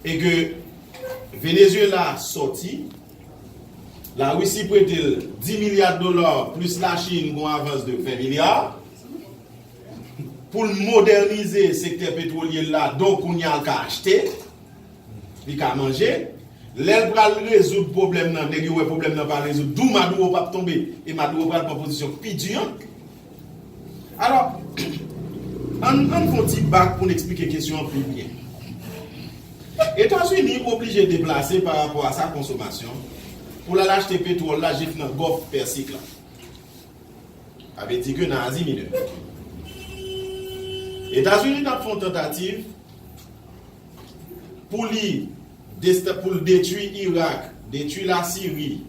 E ke Venezuela sòti, La Russie prete l 10 milya dola plis La Chine gon avans de 20 milya pou l modènize sektè petwolye l la donk kounye a l ka achte, li ka manje. Lè l pral rezoud pwoblèm nan, nèg yo wè pwoblèm nan pa rezoud, dou Maduro pap tonbe e Maduro pral pran pozisyon pi di an. Alò, an n fè yon ti bak pou n eksplike kesyon an pi byen. Etazini oblije deplase pa rapò a sa konsomasyon pou l al achte petwòl la jis nan Gòf Pèsik la. Sa vle di ke nan Azi Minè. Etazini t ap fè yon tantativ pou li pou l detwi Irak, detwi Lasiri,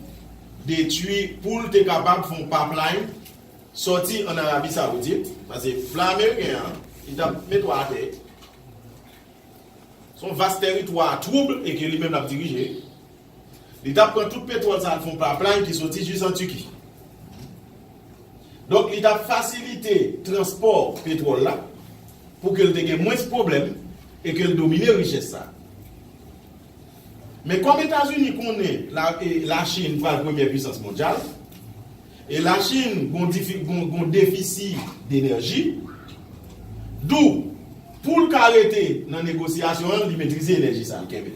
detwi pou l te kapab fè yon pipeline Sòti an Arabi Saoudit, pase fla ameriken an ki t ap met wa atè, s on vas tèritwa twoub e ke li menm l ap dirije, li t ap pran tout petwòl sa a k fon paplay ki sòti jis an Tiki. Donk li t ap fasilite transpò petwòl la pou ke l te gen mwens pwoblèm e ke l domine richès sa a. Men kòm Etazini konnen Lachin pral premyè pwisans mondyal, E Lachin gon defisi denèji. Dou, pou l ka rete nan negosyasyon an, li metrize enèji sa l kenbe.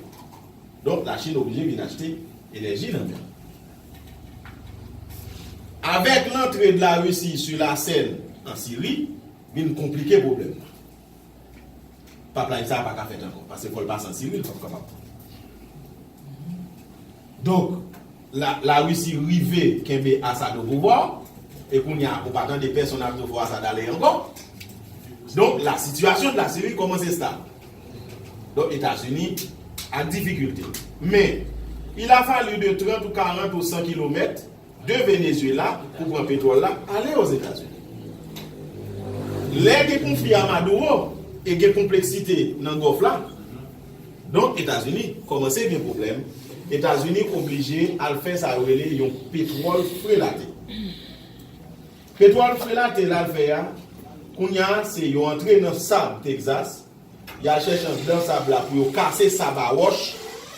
Donk Lachin oblije vin achte enèji nan men l. Avèk lantre Larisi sou lasèn an Siri, vin konplike pwoblèm nan. Pap live sa a paka fèt ankò paske fòl pa santi wi li pap kapab donk la russie rive kenbe assad o pouvwa e kounya ou pa tande pèsonn ap di fò assad ale ankò donk la situation de la syrie kòmanse stab donk etazini ak difikilte men il a fallu de 30 ou 40 ou 100 kilomèt de Venezuela pou pran petwòl la ale o Zetazini. Lè gen konfli a Maduro e gen konpleksite nan Gòf la, donk Etazini kòmanse gen pwoblèm, Etazini oblije al fè sa yo rele yon petwòl frelate. Petwòl frelate l al fè a, kounya se yo antre nan sab Texas, y al chèche anndan sab la pou yo kase sab a wòch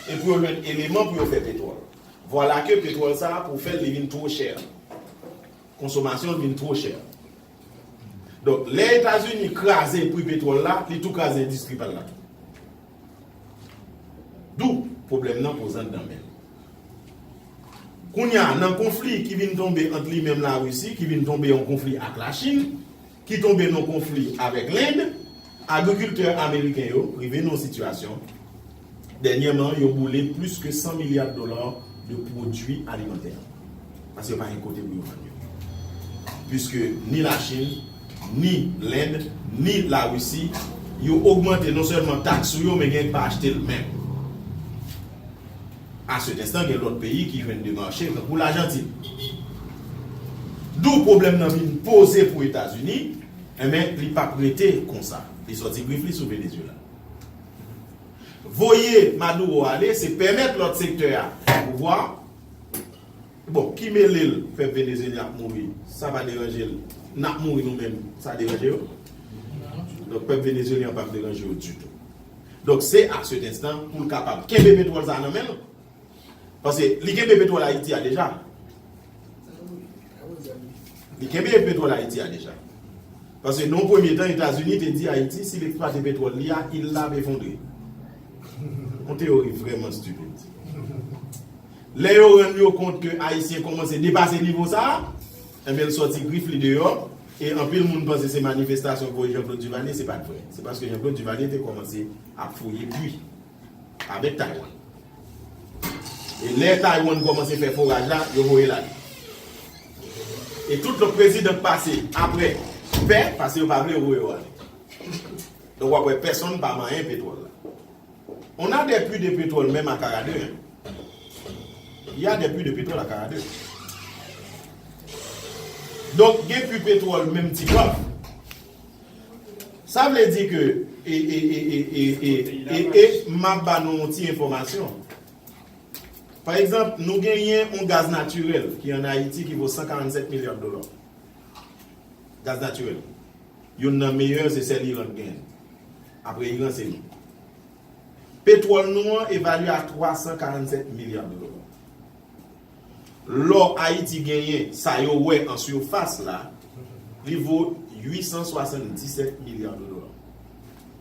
e pou yo jwenn eleman pou yo fè petwòl. Vwala ke petwòl sa a pou fèl li vin two chè. Konsomasyon l vin two chè. Donk lè Etazini kraze pri petwòl la, li tou kraze endistri pa l la tou. Dou, pwoblèm nan poze anndan men l. Kounya nan konfli ki vin tonbe ant li menm Larisi, ki vin tonbe an konfli ak Lachin, ki tonbe nan konfli avèk Lend, agrikiltè ameriken yo rive nan yon sitiyasyon, dènyèman yo boule plis ke 100 milya dola de pwodui alimantè, paske yo pa gen kote pou yo vann yo, piske ni Lachin, ni Lend, ni Larisi, yo ogmante non sèlman taks sou yo, men genyen ki pa achte l menm. A cet enstan gen lòt peyi ki jwenn demarche yo tankou Lajantin. Dou pwoblèm nan vin poze pou Etazini, enben li pap rete konsa. Li sòti grif li sou Venezuela. Voye Maduro ale se pèmèt lòt sektè a pran pouvwa a. Bon, ki mele l fè Venezuelyen ap mouri, sa pa deranje l. N ap mouri nou menm, sa deranje yo? Donk pèp Venezuelyen an pap deranje yo ditou. Donk se a cet enstan pou l kapab kenbe petwòl sa a nan men l. Pase li kenbe petwòl Ayiti a deja. Li kenbe petwòl Ayiti a deja. Pase nan yon premye tan Etazini te di Ayiti si l eksplwate petwòl li a, il la ap efondre. Yon teyori vrèman stupid. Lè yo rann yo kont ke Ayisyen kòmanse depase nivo sa a, enben l sòti grif li deyò. E anpil moun panse se manifestasyon voye Jean Claude Duvalier se pat vre. Se paske Jean Claude Duvalier te kòmanse ap fouye pwi avèk Taiwan. E lè Taiwan kòmanse fè foraj la, yo voye l ale. E tout lòt prezidan k pase aprè pè, paske yo pa vle yo voye yo ale. Donk w ap wè pèsonn pa manyen petwòl la. On a des puits de pétrole menm a Karadè hein. Il y a des puits de pétrole a Karadè. Donk gen puits pétrole menm ti Kav. Sa vle di ke e e e e e e e e e map ba nou yon ti enfòmasyon. Pa egzanp nou genyen yon gaz natirèl ki an Ayiti ki vo 147 milya dola. Gaz natirèl. Youn nan meyè se sèl Iran k genyen. Apre Iran se nou. Petwòl nou an evalye a 347 milya dola. Lò Ayiti genyen sa yo wè an surface la, li vo 877 milya dola.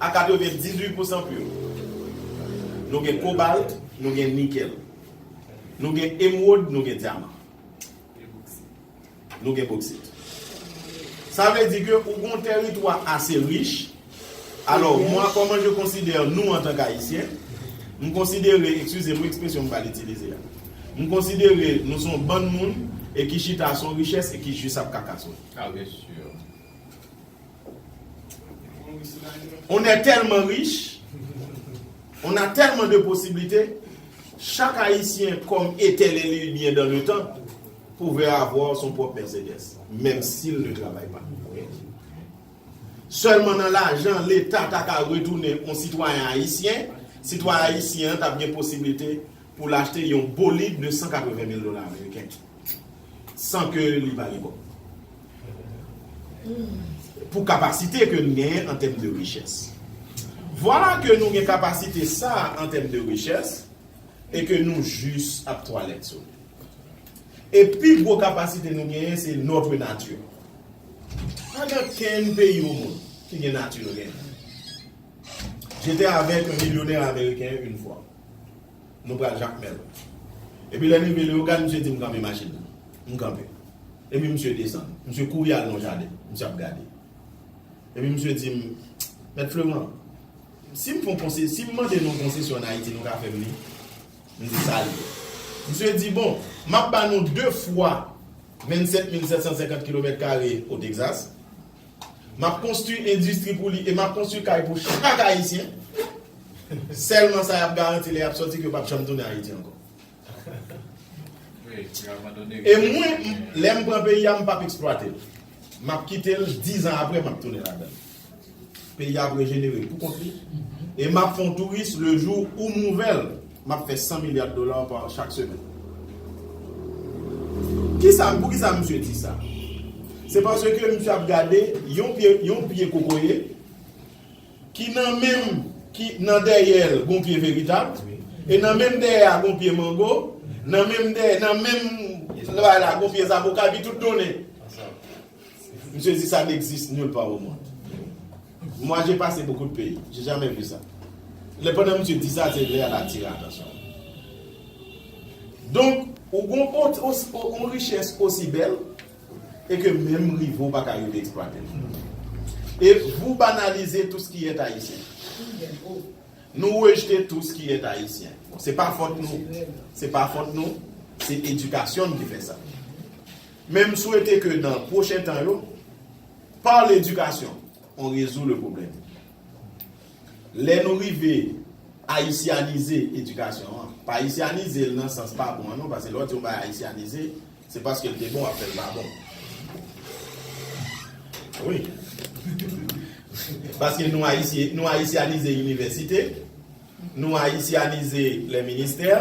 a 98 pousan pur. Nou gen kobalt, nou gen nikèl. Nou gen emwod, nou gen dyaman. Nou gen boksit. Sa vle di ke ou gen yon tèritwa ase rich. Alò, mwa kòman je konsidè nou antan k Ayisyen, m konsidere, ekskize m wi ekspresyon m pral itilize a, m konsidere nou son bann moun e ki chita son richès e ki jis ap kakason. A byen sur. On è tèlman rich, on a tèlman de posiblite, chak ayisyen kòm etènèl li byen dan le tan, pouvè avwa son pwòp Mercedes, menm sil ne travay pa. Sèlman nan lajan leta ta ka retounen on sitwayen ayisyen, sitwayen ayisyen an tap gen posiblite poul achte yon bolid de 180 mil dola ameriken. san ke li pa gen kòb. Pou kapasite ke nou genyen an tèm de richès. Vwala ke nou gen kapasite sa a an tèm de richès e ke nou jis ap twalèt sou li. E pi gwo kapasite nou genyen se notre nature. Pa gen kenn peyi o mond ki gen nati nou genyen. J'étais avec un millionnaire américain une fois. Nou pral Jakmèl. Epi lè n rive Leyogàn, misye di m kanpe machin nan. M kanpe. Epi misye desann. Misye kouri al nan yon jaden. Misye ap gade. Epi misye di m, Mèt Fleman, si m fon konse, si m mande nou konsesyon ann Ayiti, nou ka fè m li? M di, Sa l ye? Misye di, Bon, m ap ba nou de fwa 27 mil 750 kilomèt kare Otegzas. M ap konstwi endistri pou li e m ap konstwi kay pou chak Ayisyen. Sèlman sa y ap garanti lè y ap soti ke yo pap janm tounen Ayiti ankò. E mwen, lè m pran peyi a, m pap eksplwate l. M ap kite l, dizan apre m ap tounen ladan l. Peyi a ap rejenere pou kont li e m ap fè yon touris le jou ou m ouvè l. Map fè 100 milliards dollars par chak semèn. Kisa, poukisa misye di sa? Se paske misye ap gade yon pye, yon pye kokoye ki nan menm, ki nan dèyèl gon pye veritab, e nan menm dèyè a gon pye mango, nan menm dèyè, nan menm bay la gon pye zavoka, epi tout donnen. Misye di sa n'existe nulle part au monde. Moi j'ai passé beaucoup de pays, j'ai jamais vu ça. Lè pandan misye di sa, se lè a l'atire attention nou. Donk, ou gon yon richesse aussi belle et que menm rive ou paka rive exploiter l. Et vous banalisez tout ce qui est haïtien. Nou rejete tout ce qui est haïtien. Se pa fòt nou, se pa fòt nou, se education n ki fè sa. Men m swete ke nan pwochen tan yo, par l'éducation, on résout le problème. Lè nou rive ayisyanize edikasyon an, pa ayisyanize l nan sans pa bon an non, paske lè w di yon bagay ayisyanize, se paske l te bon w ap fè l pa bon. Wi. Paske nou ayisyanize inivèsite. Nou ayisyanize lè ministè,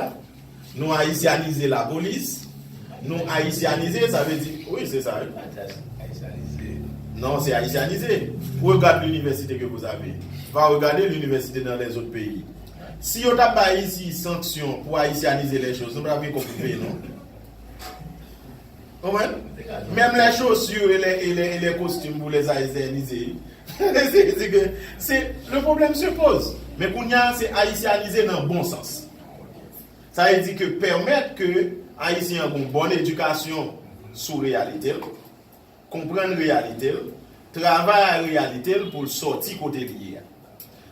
nou ayisyanize la polis, nou ayisyanize sa vle di wi se sa wi. Pa ta ayisyanize. Non se ayisyanize. Regad linivèsite ke vous avez. Va regade linivèsite nan lè zot peyi. Si yo ta bay ayiti sanksyon pou ayisyanize lè choz nou pa tap gen kob pou peye non. Konprann? Menm lè chaussure e lè e lè e lè costume pou les haïtianiser wi. Mwen eseye di ke se le problème se pose. Men kounye a se haïtianiser nan bon sans. Sa vle di ke pèmèt ke Ayisyen an gon bon edikasyon sou reyalite l, konprann reyalite l, travay a reyalite l pou l sòti kote li ye a.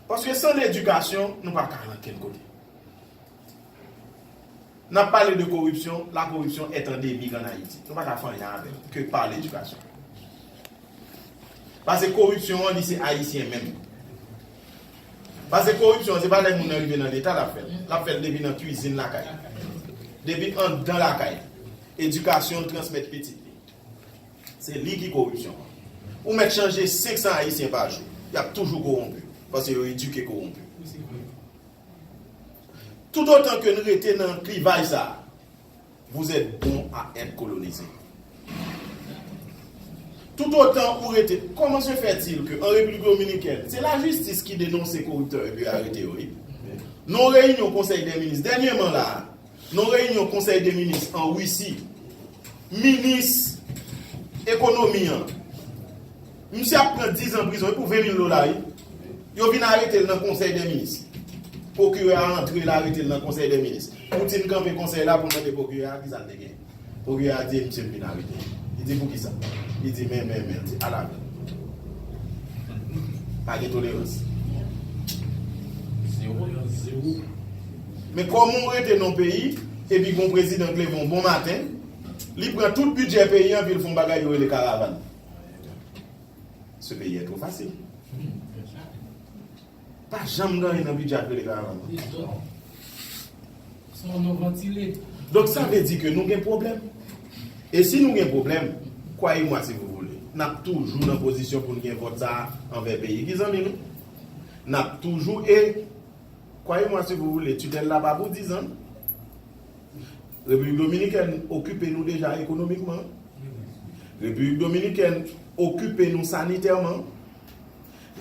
Paske san ledikasyon nou pa ka al ankenn kote. Nap pale de koripsyon, la koripsyon est endemique en Haïti. Nou paka fè anyen avèl ke par l'éducation. Pase koripsyon an li se Ayisyen menm. Pase koripsyon an se pa lè moun nan rive nan leta lap fèl. Lap fèl depi nan kwizin lakay li. Depi andan lakay li. Edikasyon l transmèt pitit li. Se li ki koripsyon an. Ou mèt chanje 500 Ayisyen pa jou, yap toujou kowonpi. Pase yo edike kowonpi. Tout otan ke n rete nan klivaj sa a, vous etes bon a etre kolonize. Tout otan ou rete, koman se fè til ke an Repiblik Dominikèn, se lajistis ki denonse koriptè epi arete yo wi. Non reyinyon konsèy dè minis dènyeman la a, Nan reyinyon konsèy de minis an Risi, minis ekonomi an, misye ap pran 10 zan prizon, e pou 20 mil dola wi, yo vin arete l nan konsèy de minis, pwokirè a antre l arete l nan konsèy de minis, Poutine kanpe konsèy la pou l mande pwokirè a kisa l te gen. Pwokirè a di e misye fin arete. Li di poukisa? Li di men, men, men. Li di ala men. Pa gen tolerans. Zewo yon zewo. Men koman ou rete nan peyi epi gon prezidan ki leve yon bon maten, li pran tout bidjè peyi an epi li fè yon bagay yo rele karavan. Ce pays est trop facile. Pa janm gen anyen nan bidjè ak rele karavan non. Yes doc. Se yon non vantile. Donk sa vle di ke nou gen pwoblèm. E si nou gen pwoblèm, kwaye mwa si vou voule, n ap toujou nan pozisyon pou n gen vòt sa a anvè peyi ki zanmi nou. N ap toujou e, kwaye mwa si vou voule, titèl la pa pou dizan non. Repiblik Dominikèn okipe nou deja ekonomikman. Repiblik Dominikèn okipe nou sanitèman.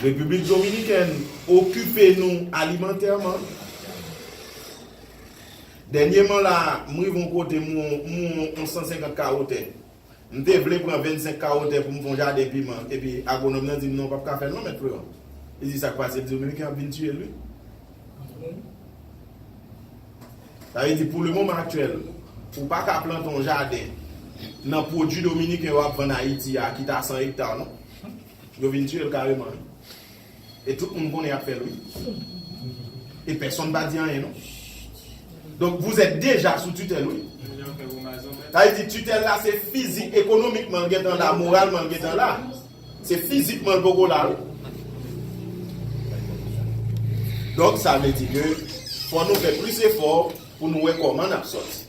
Repiblik Dominikèn okipe nou alimantèman. Dènyeman la a, m rive yon kote m wè yon 150 kawo tè. M te vle pran 25 kawo tè pou m fè yon jaden piman, epi agwonòm nan di m non w pap ka fè l non mèt Freron. Li di sa k pase, m di Dominiken ap vin tiye l wi. Sa vle di pou le moman aktyèl, ou pa ka plante yon jaden nan pwodui Dominiken yo ap vann Ayiti a ki ta 100 ekta non. Yo vin tiyel kareman wi. E tout moun konnen yap fèl wi. E pèsonn pa di anyen non. Donk vous êtes deja sou tutèl wi. Sa vle di tutèl la se fizik, ekonomikman l gentan la, moralman l gentan la. Se fizikman l poko la wi. Donk sa vle di ke fò nou fè plis efò pou nou wè kòman nap sòti.